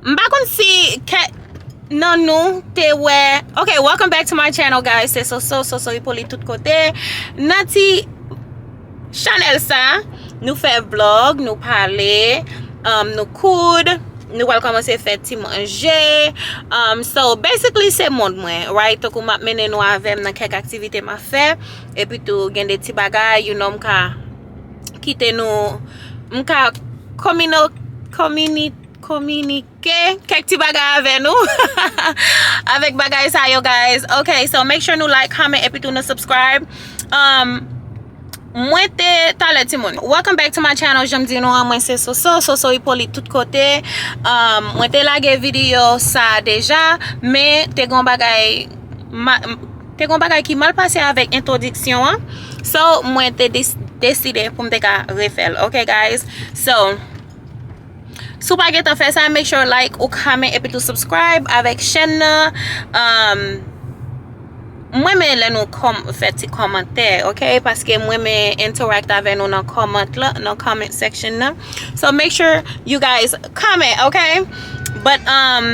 M pa konn si kè Nan nou te wè Ok welcome back to my channel guys Se Soso, Soso Hyppolite tout kote Nan ti Chanel sa Nou fè vlog Nou pale um, Nou koud Nou wèl komanse fè ti manje um, So basically se mond mwen Right Tokou map menen nou avèm nan kèk aktivite ma fè E pi tou gen de ti bagay You know m ka Kite nou M ka Komino Komini Kominike kèk ti bagay avè nou avèk bagay sa yo guys ok so make sure nou like comment epi tou nou subscribe um mwen te talè ti moun welcome back to my channel janm di nou an mwen se soso soso ipolit tout kote um mwen te lage video sa deja men te gon bagay te gon bagay ki mal pase avèk entwodiksyon an so mwen te deside poum te ka refèl ok guys so. Si w pa gentan fè sa make sure like ou comment epitou subscribe avèk chèn nan um m renmen lè nou fè ti kòmantè ok paske m renmen interact avè nou nan comment la nan comment section nan so make sure you guys comment ok but um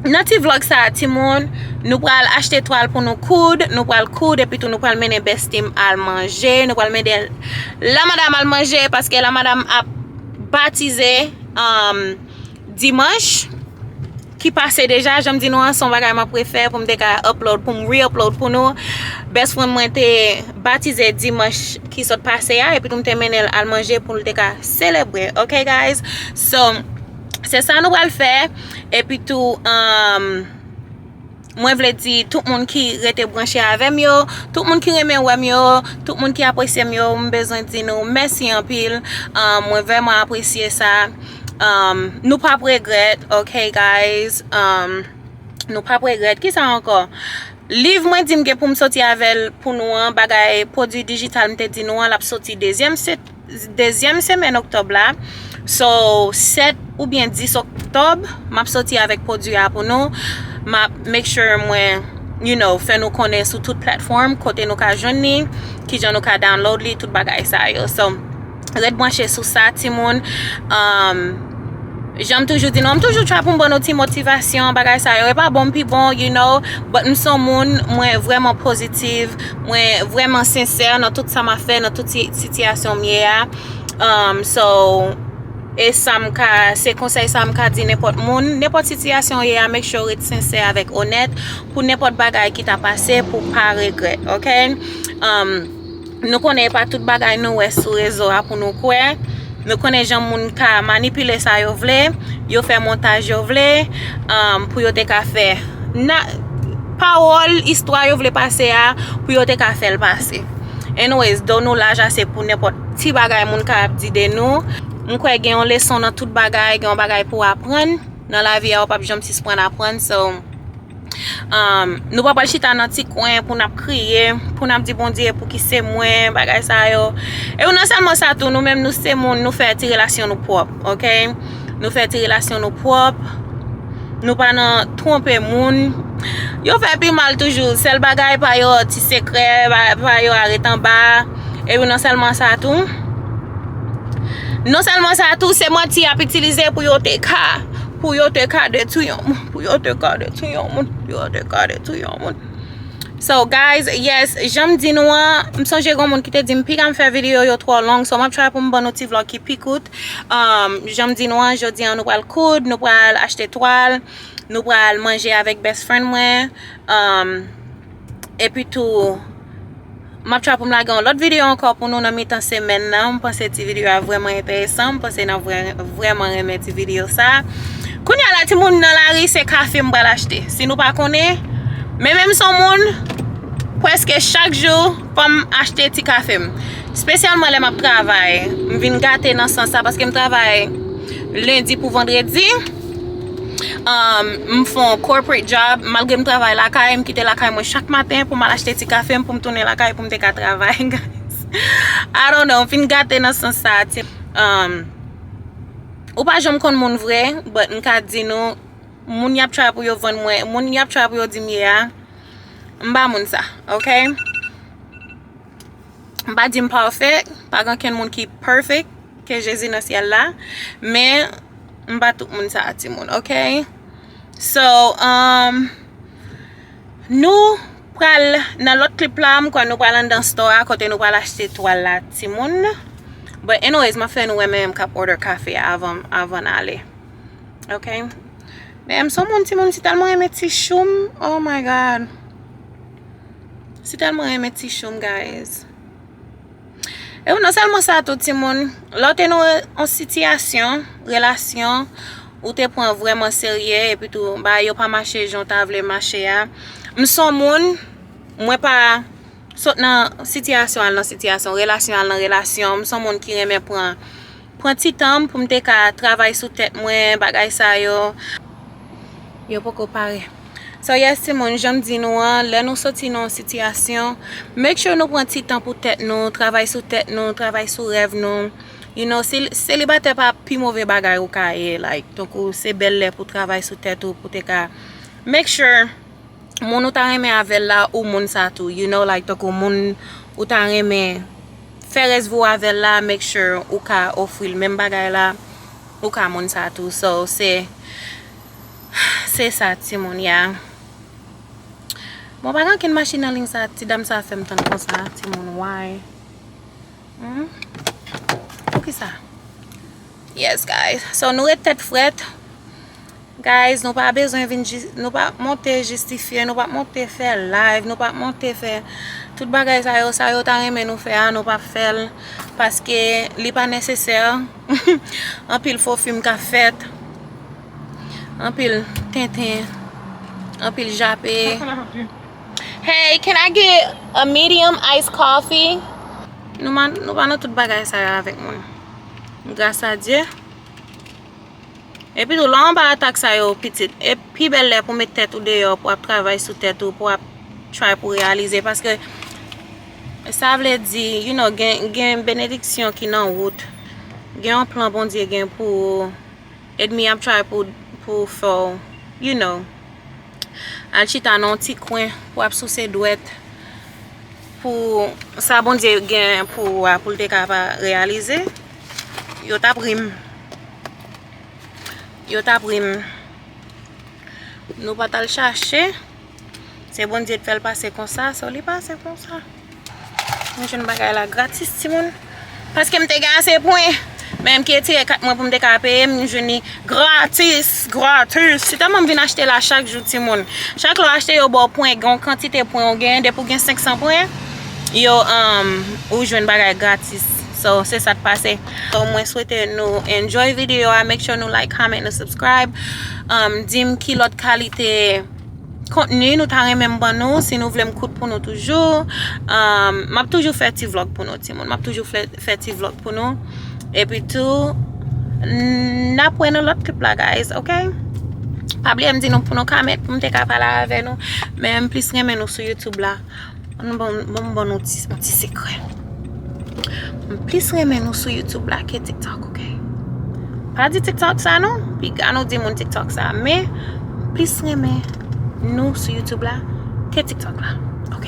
nan ti vlog sa timoun nou pral achte twal pou nou koud nou pral koud epitou nou pral mennen bestie m al manje nou pral mennen la madam al manje paske la madam ap Batize dimanch ki pase deja, janm di nou an son bagay map refè poum te ka upload poum re upload pou nou best friend mwen te batize dimanch ki sot pase a epi tou mte mennen l al manje poul te ka selebre ok guys so se sa nou pral fè epi tou Mwen vle di tout moun ki rete branche avèm yo, tout moun ki renmen wèm yo, tout moun ki apresyem yo, m bezwen di nou mèsi anpil, mwen vèman apresye sa, nou pap regrèt ok guys, nou pap regrèt, kisa ankò, liv mwen dim gen poum soti avèl pou nou an, bagay pwodwi dijital m te di nou an lap soti dezyèm. dezyèm semèn oktòb la so 7 oubyen 10 oktòb map soti avèk pwodwi a pou nou map make sure mwen you know fè nou konnen sou tout platform kote nou ka jwenn ni kijan nou ka download li tout bagay sa yo so ret bwanche sou sa timoun emm janm toujou di nou m toujou try pou m ban nou ti motivasyon bagay sa yo e pa bon m pi bon you know but m son moun mwen vrèman pozitiv Mwen vreman sensè nan tout sa ma fè, nan tout sitiyasyon m ye a. So, e sa m ka, se konsèy sa m ka di nenpòt moun. Nenpòt sitiyasyon ou ye a, make sure ou ret sensè avèk onèt pou nenpòt bagay ki ta pase pou w pa regrèt, ok? Nou konnen e pa tout bagay nou wè sou rezo a pou nou kwè. Nou konnen jan moun ka manipile sa yo vle, yo fè montaj yo vle, pou yo te ka fè pawòl, istwa yo vle pase a, pou yo te ka fè l pase. Anyways, do nou laj ase pou nenpòt ti bagay moun ka ap di de nou. M kwè gen yon leson nan tout bagay, gen yon bagay pou w aprann nan lavi a, ou pap janm sisprann aprann. Nou pa pral chita nan ti kwen pou n ap kriye, pou n ap di Bondye pou ki se mwen, bagay sa yo. E ou nan sèlman sa tou, nou menm nou se moun, nou fè ti relasyon nou pwòp, ok? Nou fè ti relasyon nou pwòp, nou pa nan twonpe moun. Yo fè pi mal toujou, sèl bagay pa yo ti sekrè, pa yo a ret anba. E ou nan sèlman sa tou, nan sèlman sa tou, se manti y ap itilize pou yo te ka, pou yo te ka detwi yon moun. Pou yo te kade tou yon moun. Pou yo te kade tou yon moun. So guys, yes, janm di nou an, m sonje gon moun ki te di m piga m fè video yo twò long, so m ap try pou m ban nou ti vlog ki pi kout. Um, janm di nou an, jodi an nou pral koud, nou pral achte twal, nou pral manje avèk best friend mwen. Um. Epi tou, m ap try pou m lage yon lòt videyo ankò pou nou nan mitan semèn nan. M panse ti videyo a vrèman enteresan. M panse n ap vrèman renmen ti videyo sa. Kounye a la timoun nan lari se kafe m pral achte. Si nou pa konnen, men menm son moun, pwèske chak jou fò m achte ti kafe m. Spesyalman lè m ap travay. M vin gate nan sans sa paske m travay lendi pou vandredi. M fon corporate job, malgre m travay lakay, m kite lakay mwen chak maten pou m al achte ti kafe m pou m tounen lakay pou m te ka travay. I don't know, m fin gate nan sans sa. Ou pa janm konn moun vre, but m ka di nou, moun y ap travay pou yo vann mwen, moun y ap travay pou yo di m ye a, m pa moun sa, ok? M pa di m pafè, pa gen okenn moun ki perfect ke Jezi nan syèl la, men m pa tout moun sa a timoun ok. So nou pral nan lòt klip la, m kwè nou pral anndan store a kote nou pral achte twal la timoun. But anyways m ap fè nou wè mè m k ap order kafe a avan n ale ok. Mè m son moun timoun m si tèlman renmen ti chou m oh my God. Si telman renmen ti choum guys. E ou nan selman sa tou ti moun. Lè ou te nan yon sitiyasyon, relasyon, ou te pran vreman serye e pi tou ba yo pa mache jan ou ta vle mache a. M son moun, mwen pa sot nan sitiyasyon al nan sitiyasyon, relasyon al nan relasyon. M son moun ki renmen pran. pran ti tan m pou m te ka travay sou tèt mwen bagay sa yo yo poko pare so yes timoun janm di nou an lè nou soti nan yon sitiyasyon make sure nou pran ti tan pou tèt nou travay sou tèt nou travay sou rèv nou you know selibatè pa pi move bagay ou ka ye like tankou se bèl lè pou travay sou tèt ou pou te ka make sure moun ou ta renmen avèl la ou moun sa tou you know like tankou moun ou ta renmen. Fè rès vou avèl la make sure ou ka ofril menm bagay la ou ka moun sa tou so se se sa timoun ya bon pa gen ankenn machin nan ligne sa ti dam sa fèm tann konsa timoun why humm poukisa yes guys so nou ret tèt frèt. Guys nou pa bezwen vin nou pa monte jistifye nou pa monte fè live nou pa monte fè tout bagay sa yo sa yo ta renmen nou fè a nou pa fèl paske li pa nesesè anpil fo film ka fèt anpil tenten anpil jape hey can I get a medium ice coffee nou pa nan tout bagay sa yo avèk mwen gras a Dieu Epi tou lè w anba atak sa yo pitit, e pi bèl lè pou w met tèt ou deyò, pou w ap travay sou tèt ou, pou w ap try pou w reyalize, paske sa vle di, you know, gen benediksyon ki nan wout, gen yon plan Bondye gen pou ou, edmi ap try pou fè w, you know, al chita nan yon ti kwen, pou w ap souse dwèt, pou sa Bondye gen pou ou a, pou l te ka pa reyalize. Yo tap rim. Yo tap rim. Nou pa tal chache. Se Bondye ki fel pase konsa. So li pase konsa. Mwen jwenn bagay la gratis ti moun. Paske m te gen ase pwen. Men m ke tire kat mwen pou m te ka peye. M jwenn li gratis. Gratis. Se telman m vin achte la chak jou ti moun. Chak lè w achte yo baw pwen. Gen yon kantite pwen ou gen. Depi w gen 500 pwen. Yo, euh, ou jwenn bagay gratis. So se sa t pase. So mwen swete nou enjoy video a. Make sure nou like, comment, nou subscribe. Dim ki lot kalite kontni nou ta renmen m ban nou. Si nou vle m koud pou nou toujou. M ap toujou fè ti vlog pou nou ti moun. M ap toujou fè ti vlog pou nou. E pi tou n ap wè nan lot klip la guys ok. Pa bliye m di nou pou nou comment pou m te ka pale avè nou. Men m plis renmen nou sou YouTube la. Bon bon bon bon nou ti ti sekrè. M plis renmen nou sou YouTube la ke TikTok ok. Pa di TikTok sa non, piga nou di moun TikTok sa. Men m plis renmen nou sou YouTube la ke TikTok la ok.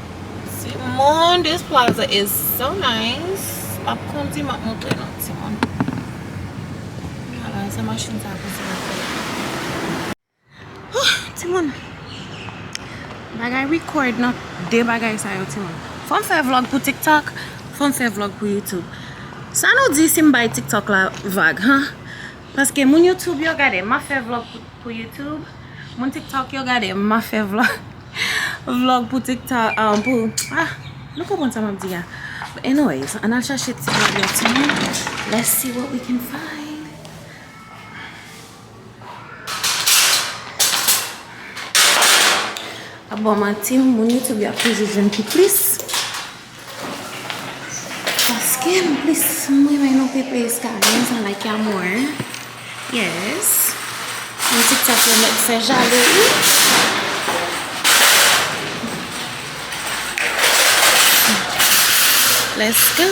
Timoun this plaza is so nice map kondi map montre nou timoun ala sa machin sa konn fè lafè oh timoun bagay record nan de bagay sa yo timoun fòm fè vlog pou tiktok fòm fè vlog pou youtube sa nou di sim bay tiktok la vag huh paske moun youtube yo gade map fè vlog pou youtube Moun tiktok yo gade m ap fè vlog Vlog pou tiktok ah pou ah Nou konprann sa m ap di a But anyways Ann al chache ti vlog la ti moun Let's see what we can find Ap ba w manti Moun youtube yo ap toujou jwenn pi plis Paske m plis m renmen nou pi plis ka gen sa like ya mwen. Yes. M ti chat yo met fè jale wi. Let's go.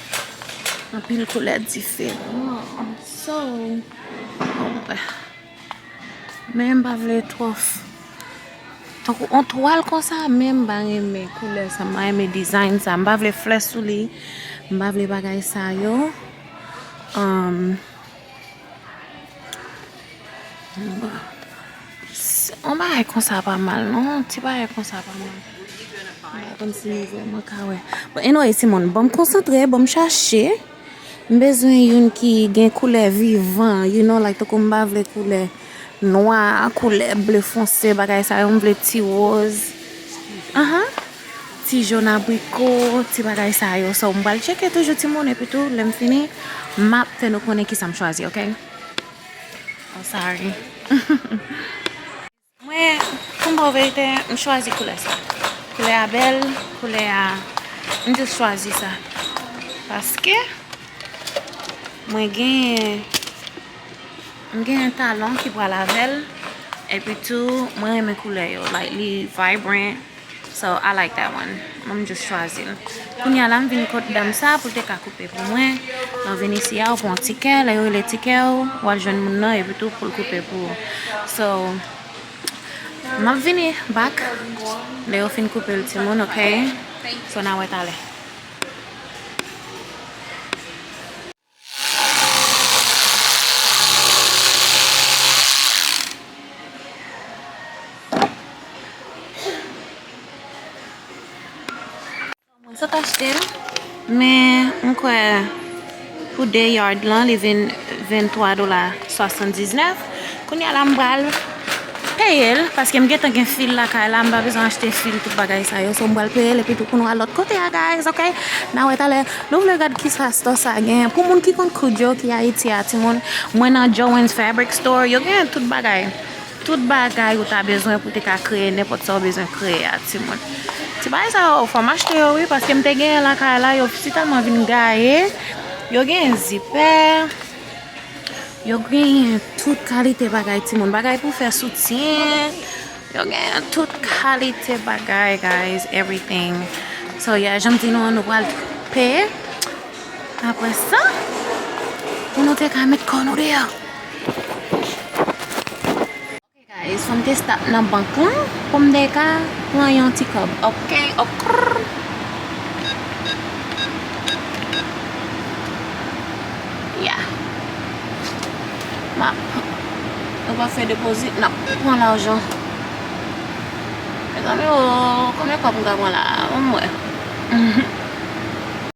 Anpil koulè diferan. So, men m pa vle twòf. Tankou on twal konsa men m pa renmen koulè sa. M pa renmen design sa. M pa vle flè sou li. M pa vle bagay sa yo. On bagay konsa pa mal non. Ti bagay konsa pa mal. Mwen konn si nou vwe mwen ka wè. Bon, anyway ti moun, bon m konsantre, bon m chache. M bezwen youn ki gen koulè vivan, you know, like tankou m pa vle koulè nwa, koulè ble fonse, bagay sa yo. M vle ti woz. Aha. Ti jòn abriko, ti bagay sa yo. So, m pral tcheke toujou ti moun epi tou lè m fini, m ap fè nou konnen kisa m chwazi, ok? I'm sorry. Mwen, pou m ba w verite, m chwazi koulè sa. Koulè a bèl, koulè a, m jis chwazi sa. Paske, mwen gen, m gen yon talon ki pral avè l, epi tou mwen renmen koulè yo. Like, li vibrant. So I like that one Mwen just chwazi l Kounya la m vin kot dam sa pou l te ka koupe pou mwen Lè w vin isi a ou pran w tikè Lè yo rele tikè ou w al jwenn moun nan epi tou pou l koupe pou ou So M ap vini back Lè yo fin koupe l ti moun ok So na wè talè. Mwen sot achte l. Men mwen kwè pou 2 yard lan li vin 23 dola 79. Kounye a la m pral. peyel paske m gentan gen fil lakay la m pa bezwen achte fil tout bagay sa yo so m pral peyel epi tou pou nou al lot kote a guys ok na wè talè nou vle gad kisa store sa gen pou moun ki konn koud yo ki ayiti a timoun mwen nan Joan's fabric store yo gen tout bagay tout bagay ou ta bezwen pou te ka kreye nenpot sa ou bezwen kreye a timoun ti bagay sa yo fòm achte yo wi paske m te gen lakay la yo sitalman vin gaye yo gen zipè. Yo genyen tout kalite bagay ti moun. Bagay pou fè soutyen. Yo genyen tout kalite bagay guys. Everything. So ya yeah, janm di nou an nou pral peye. Apre sa. Pou nou te ka met kò nou deyò. Hey guys fòm te stop nan bank lan poum te ka pran yon ti kòb ok okrrrr yeah map nou pa fè deposit nap pran lajan mezanmi oo konbyen kòb m ka pran la banm wè.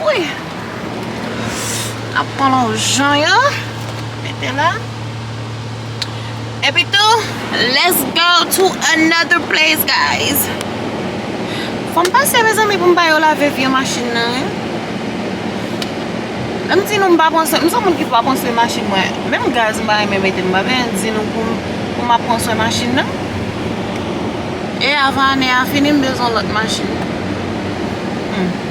Wouyy Nap pran lajan yo Mete la Epi tou Let's go to another place guys Fom pase mezanmi poum bayo lave vye machin nan Lem di nou m pa pran swen M son moun ki pa pran swen machin mwen Menm gaz m pa renmen mete M pa byen di nou pou map pran swen machin nan E avan ane a fini m bezwen lot machin Humm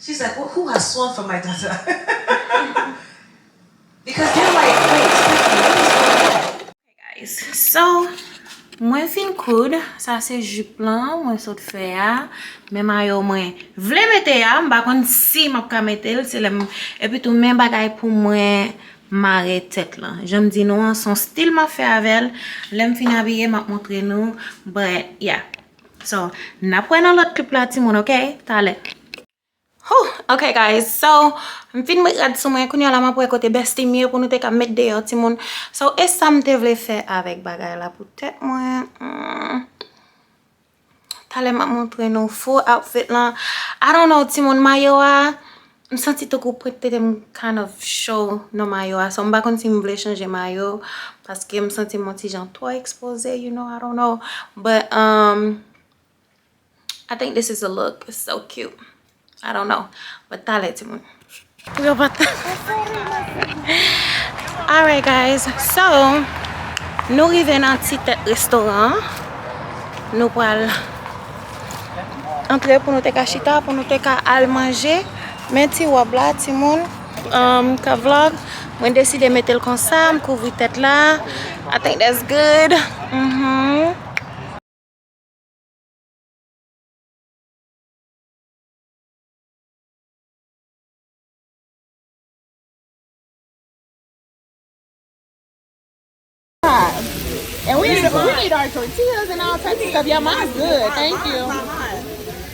She is like oh hoo ha swan for my tata because they're like wait Stephanie what is going on. Hey guys so mwen fin koud sa se jupe lan mwen sot fè a men mayo mwen vle mete a m pa konn si map ka metel se lèm epi tou men bagay pou mwen mare tèt lan janm di nou an son stil map fè avèl lèm fin abiye map montre nou but yeah. So nap wè nan lòt klip la ti moun ok talè. Hoo ok guys so m fin met rad sou mwen kounya la map wè kote bestie m ye pou nou te ka met deyò ti moun so esam te vle fè avèk bagay la pou tèt mwen humm talè map montre nou full outfit lan I don't know ti moun mayo a M santi tankou pwent tete m kind of cho nan mayo a so m pa konn si m vle chanje mayo paske m santi m on ti jan twò ekspoze you know I don't know but umm I think this is the look it's so cute I don't know but talè ti moun pou yo pa ta alright guys so nou rive nan ti tèt restoran nou pral antre pou nou te ka chita pou nou te ka al manje men ti wòb la ti moun ka vlog mwen deside metel konsa m kouvri tèt la I think that's good uhmm. And we need, we need our tortillas and all types of stuff. Yeah, mine's good. Thank you.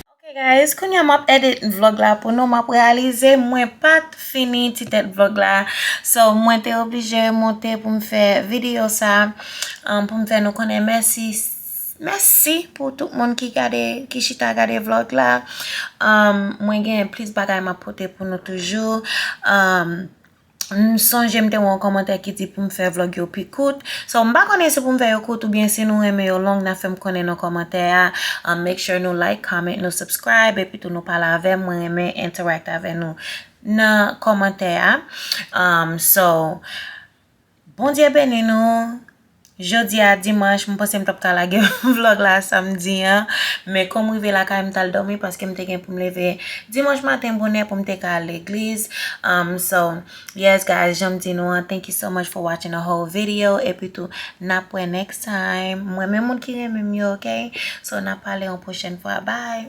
Okay guys, kounya map edit vlog la pou nou map realize mwen pat fini ti tèt vlog la. So mwen te oblije monte pou m fè video sa um, pou m fè nou konnen mèsi mèsi pou tout moun ki gade ki chita gade vlog la. Um, mwen gen plis bagay map pote pou nou toujou. Um, M sonje m te wè yon kòmantè ki di pou m fè vlog yo pi kout. So m pa konnen si pou m fè yo kout oubyen si nou renmen yo long na fè m konnen nan kòmantè a. An make sure nou like, comment, nou subscribe epi tou nou pale avè m. Mwen renmen interact avè nou nan kòmantè a. So. Bondye beni nou Jodi a dimanch m panse m tap ka lage vlog la samdi an men kòm m rive lakay m tal dòmi paske m te gen pou m leve dimanch maten bonè pou m te ka al legliz so yes guys janm di nou an thank you so much for watching the whole video epi tou nap wè next time m renmen moun ki renmen m yo ok so nap pale yon pwochèn fwa bye